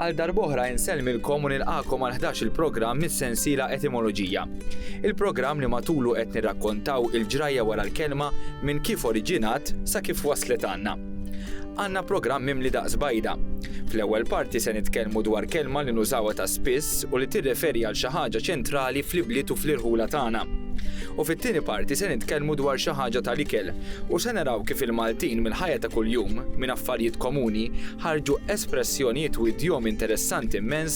Għal darboħra insellmilkom u nilqakom għal 11 il-programm mis-sensiela Etimoloġija. Il-programm li matulu qed nirrakkontaw il-ġrajja wara l-kelma minn kif oriġinat sa kif waslet għandna. Għandna programm mimli daqs bajda. Fl-ewwel parti se nitkellmu dwar kelma li nużawha ta' spiss u li tirreferi għal xi ħaġa ċentrali fl-ibliet u fl-irħula tagħna. U fit-tieni parti se nitkellmu dwar xi ħaġa tal-ikel u se naraw kif il-Maltin mill-ħajja ta' kuljum, minn affarijiet komuni, ħarġu espressjonijiet u idjomi interessanti mmens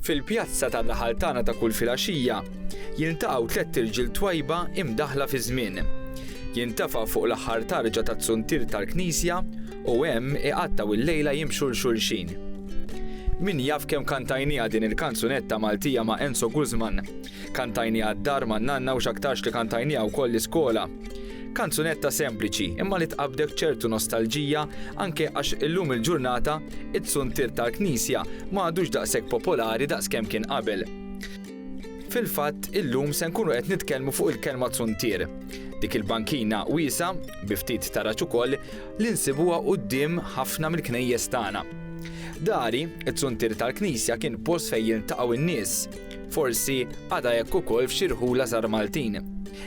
Fil-pjazza tan-naħal tagħna ta' kull filgħaxija, jiltaqgħu tlett irġiel twajba imdaħħla fiż-żmien. Jintefa' fuq l-aħħar tarġa taz-zuntier tal-knisja u hemm iqattgħu l-lejla jimxu 'l xulxin. Min jaf kemm kantajniha din il-kanzunetta Maltija ma' Enzo Guzman. Kantajniha d-dar ma' nanna u x'aktarx li kantajniha wkoll l-iskola. Kanzunetta sempliċi imma li tqabbdek ċertu nostalġija anke għax illum il-ġurnata It-Suntier tal-Knisja ma għadux daqshekk popolari daqs kemm kien qabel. Fil-fatt illum se nkunu qed nitkellmu fuq il-kelma tsuntier. Dik il-bankina wiesgħa, bi ftit taraġ ukoll, li nsibuha quddiem ħafna mill-knejjes tagħna. Dari, It-Suntier tal-Knisja kien post fejn jiltaqgħu n-nies. Forsi għadha hekk ukoll f'xi rħula żgħar Maltin.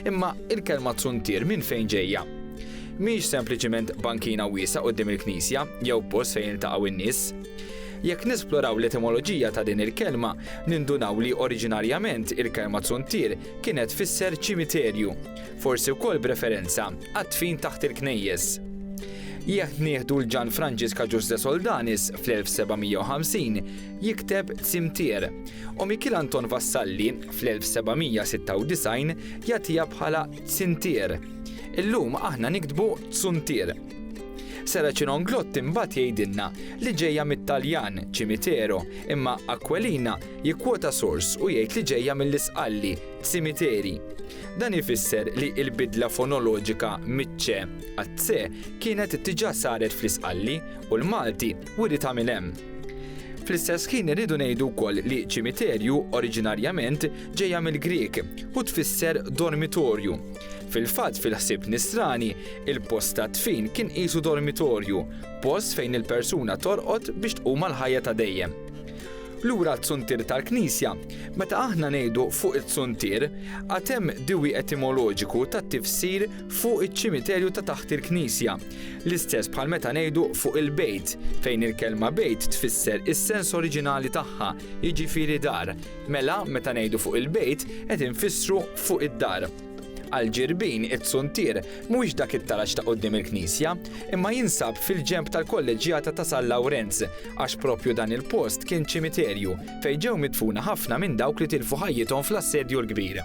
Imma il-kelma zuntier minn fejn ġejja? Mhix sempliċiment bankina wiesgħa quddiem il-knisja jew post fejn jiltaqgħu n-nies. Jekk nesploraw l-etimoloġija ta' din il-kelma, nindunaw li oriġinarjament il-kelma zuntier kienet fisser ċimiterju, forsi wkoll b'referenza għad-dfin taħt il-knejjes. Jekk nieħdu l-Ġan Franġiska Ġuż de Soldanis fl-1750, jikteb Cimetière, u Mikiel Anton Vassalli fl-1796 jagħtiha bħala Tsintier. Illum aħna niktbu Tsuntier. Sara Cinonglott imbagħad jgħidilna li ġejja mit-Taljan cimitero, imma Aquilina jikkwota sors u jgħid li ġejja mill-Isqalli cimiteri. Dan ifisser li l-bidla fonoloġika miċ-ċe għat-se kienet diġà saret fl-Isqalli u l-Malti Wiri ta' min hemm. Fl-istess ħin irridu ngħidu wkoll li ċimiterju oriġinarjament ġejja mill-Grieg u tfisser dormitorju. Fil-fatt fil-ħsieb Nisrani, il-post tad-dfin kien qisu dormitorju, post fejn il-persuna torqod biex tqum għall-ħajja ta' dejjem. Lura t-tsuntier tal-Knisja, meta aħna ngħidu fuq it-tsuntier, għad hemm diwi etimoloġiku tat-tifsir fuq iċ-ċimiterju ta' taħt il-Knisja. L-istess bħal meta ngħidu fuq il-bejt, fejn il-kelma bejt tfisser is-sens oriġinali tagħha, jiġifieri dar. Mela, meta ngħidu fuq il-bejt, qed infissru fuq id-dar. Għal Ġirbin, it-Suntier mhuwiex dak it-taraġ ta' quddiem il-knisja, imma jinsab fil-ġenb tal-kolleġġjata ta' San Lawrenz, għax proprju dan il-post kien ċimiterju fejn ġew midfuna ħafna minn dawk li tilfu ħajjithom fl-Assedju l-Kbir.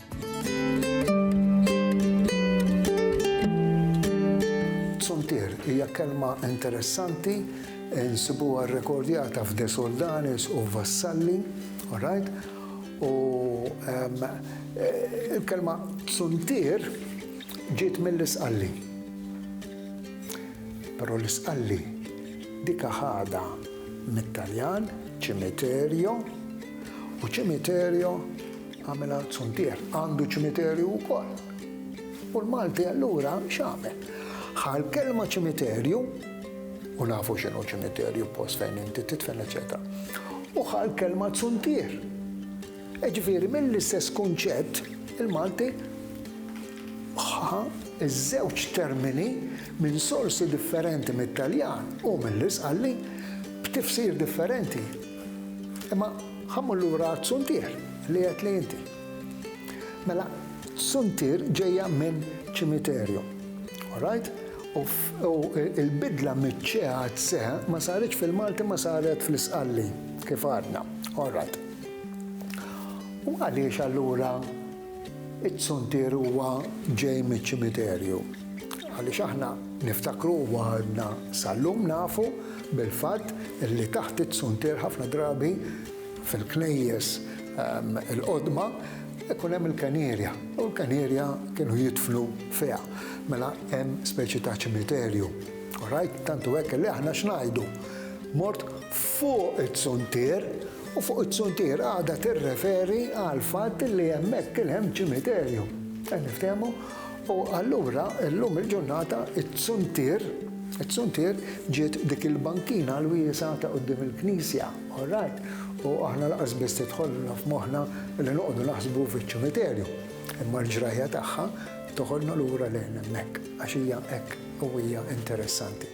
Tsuntier hija kelma interessanti nsibuha rrekordjata f'De Soldanis u Vassalli, alright? U ehm, eh, il-kelma tsuntier ġiet mill-isqalli. Però l-isqalli dika ħada mit-Taljan, ċimiterjo, u ċimiterjo Għamel Art Suntier għandu ċimiterju wkoll. U l-Malti allura x'għamel? Ħa l-kelma ċimiterju, u nafu x'inhu ċimiterju post fejn inti titfen eċetera. U ħa l-kelma Suntier. Eġifieri mill-istess kunċett il-Malti ħa iż-żewġ termini minn sorsi differenti mit-Taljan u mill-Isqalli b'tifsir differenti. Imma ħa mmur lura għat-tsuntier li għedt li inti. Mela, tsuntier ġejja minn ċimiterju. All right? U l-bidla miċ-ċe għad-se ma saritx fil-Malti ma saret fl-Isqalli, kif għadna. All right. U għaliex allura It-tsuntier huwa ġej miċ-ċimiterju. Għaliex aħna niftakru u għadna sal-lum nafu bil-fatt li taħt it-tsuntier ħafna drabi fil-knejjes il-qodma ikun hemm il-kenierja u l-kenierja kienu jidfnu fiha. Mela hemm speċi ta' ċimiterju. Orajt, tantu hekk li aħna x'ngħidu? Mort fuq it-tsuntier U fuq it-suntier għadha tirreferi għall-fatt li hemmhekk kien hemm ċimiterju. Qed niftehmu? U allura llum il-ġurnata t-suntier, it-suntier ġiet dik il-bankina l-wiesgħa ta' quddiem il-knisja, all right? U aħna lanqas biss tidħolna f'moħħna li noqogħdu naħsbu fiċ-ċimiterju. Imma l-ġrajja tagħha toħodna lura lejn hemmhekk għax hija hekk qawwija interessanti.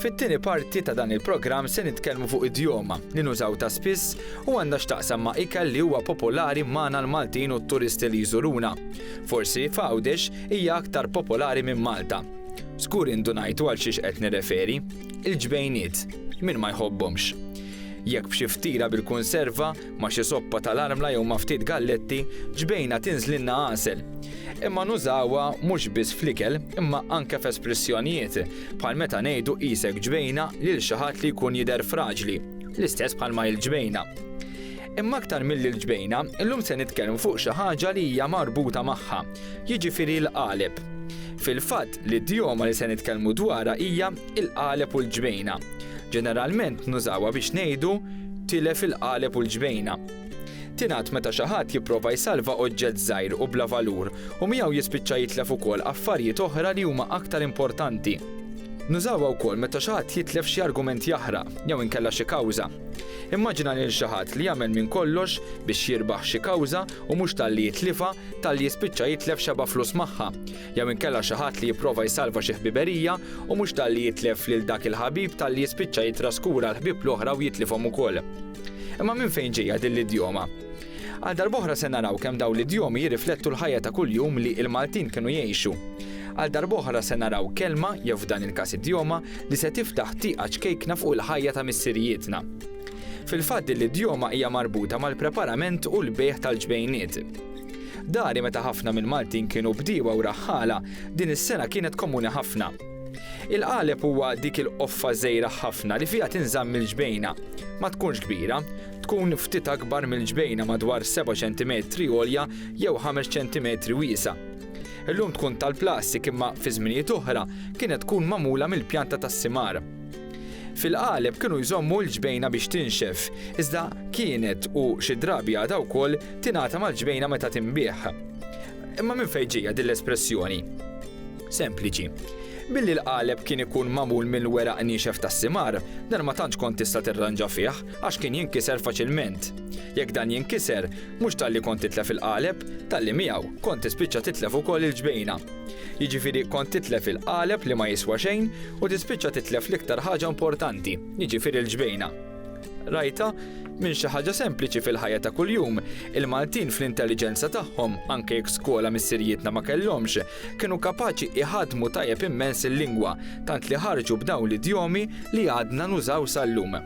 Fit-tieni parti ta' dan il-programm se nitkellmu fuq idjoma li nużaw ta' spiss u għandha x'taqsam ma' ikel li huwa popolari magħna l-Maltin u t-turisti li jżuruna. Forsi f'Għawdex hija aktar popolari minn Malta. Żgur indunajtu għal xiex qed nirreferi, il-ġbejniet, min ma jħobbhomx. Jekk b'xi ftira bil-kunserva, Ma' xi soppa tal-armla jew ma' ftit galletti, ġbejna tinżlilna għasel. Imma nużawha mhux biss fl-ikel imma anke f'espressjonijiet, bħal meta ngħidu qisek ġbejna lil xi ħadd li jkun jidher fraġli, l-istess bħalma hi l-ġbejna. Imma aktar milli l-ġbejna, illum se nitkellmu fuq xi ħaġa li hija marbuta magħha, jiġifieri l-qaleb. Fil-fatt, L-idjoma li se nitkellmu dwarha hija il-qaleb u l-ġbejna. Ġeneralment nużawha biex ngħidu tilef il-qaleb u l-ġbejna. Tingħad meta xi ħadd jipprova jsalva oġġett żgħir u bla valur u miegħu jispiċċa jitlef ukoll affarijiet oħra li huma aktar importanti. Nużawha wkoll meta xi ħadd jitlef xi argument jaħraq jew inkella xi kawża. Immaġina lil xi ħadd li jagħmel minn kollox biex jirbaħ xi kawża u mhux talli jitlifha, talli jispiċċa jitlef xebgħa flus magħha. jew inkella xi ħadd li jipprova jsalva xi ħbiberija u mhux talli jitlef lil dak il-ħabib talli jispiċċa jittraskura l-ħbieb l-oħra u jitlifhom ukoll. Imma minn fejn ġejja din l-idjoma? Għal darboħra se naraw kemm dawn l-idjomi jirriflettu l-ħajja ta' kuljum li il-Maltin kienu jgħixu. Għal darboħra se naraw kelma, jew f'dan il-każ idjoma, li se tiftaħ tieqa ċkejkna fuq il-ħajja ta' missirijietna. Fil-fatt din l-idjoma hija marbuta mal-preparament u l-bejħ tal-ġbejniet. Dari meta ħafna mill-Maltin kienu bdiewa u raħħala, din is-sengħa kienet komuni ħafna. Il-qaleb huwa dik il-qoffa żgħira ħafna li fiha tinżamm il-ġbejna. Ma tkunx kbira, tkun ftit akbar mill-ġbejna madwar 7 ċentimetri għolja jew 5 ċentimetri wiesgħa. Illum tkun tal-plastik imma fi żminijiet oħra kienet tkun magħmula mill-pjanta tas-simar. Fil-qaleb kienu jżommu l-ġbejna biex tinxef, iżda kienet, u xi drabi għadha wkoll, tingħata mal-ġbejna meta tinbiegħ. Imma minn fejn ġejja din l-espressjoni? Sempliċi. Billi l-qaleb kien ikun magħmul minn weraq niexef tas-simar, dan ma tantx kont tista' tirranġa fih, għax kien jinkiser faċilment. Jekk dan jinkiser, Mhux talli kont titlef il-qaleb, talli miegħu kont tispiċċa titlef ukoll il-ġbejna. Jiġifieri kont titlef il-qaleb li ma jiswa xejn u tispiċċa titlef l-iktar ħaġa importanti, jiġifieri l-ġbejna. Rajtha? Minn xi ħaġa sempliċi fil-ħajja ta' kuljum, il-Maltin fl-intelliġenza tagħhom, anke jekk skola missirijietna ma kellhomx, kienu kapaċi iħaddmu tajjeb immens il-lingwa, tant li ħarġu b'dawn l-idjomi li għadna nużaw sal-lum.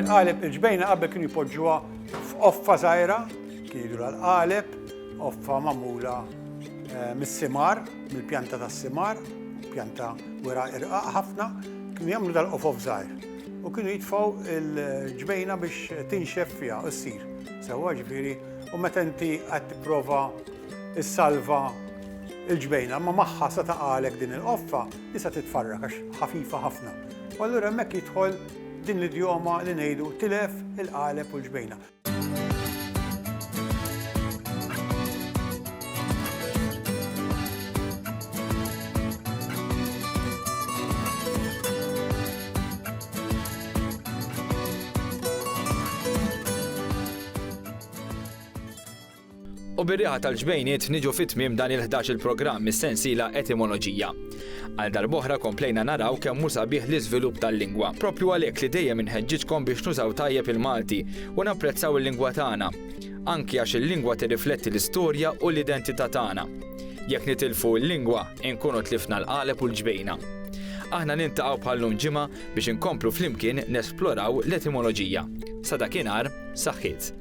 Il-qaleb il-ġbejna qabel kienu jpoġġuha f'offa żgħira, kien jidur għal-qaleb, offa magħmula eh, mis-simar, mill-pjanta tas-simar, pjanta wera irqaq ħafna, kienu jagħmlu dal-qofof żgħir. U kienu jitfaw il-ġbejna biex tinxef fiha u ssir. Sewwa ġifieri, u meta inti qed tipprova issalva l-ġbejna, imma magħha sa taqa' għalhekk din il-qoffa, hi sa titfarrak għax ħafifa ħafna. U allura hemmhekk jidħol din l-idjoma li ngħidu tilef il-qaleb u l-ġbejna. U bir-riħa tal-ġbejniet niġu fi tmiem dan il-ħdax-il programm mis-sensiela Etimoloġija. Għal darb'oħra komplejna naraw kemm hu sabiħ l-iżvilupp tal-lingwa. Proprju għalhekk li dejjem inħeġġiġkom biex nużaw tajjeb il-Malti u napprezzaw il-lingwa tagħna. Anki għax il-lingwa tirrifletti l-istorja u l-identità tagħna. Jekk nitilfu l-lingwa, inkunu tlifna l-qaleb u l-ġbejna. Aħna niltaqgħu bħal lum ġimgħa biex inkomplu flimkien nesploraw l-etimoloġija. Sa dakinhar, saħħiet!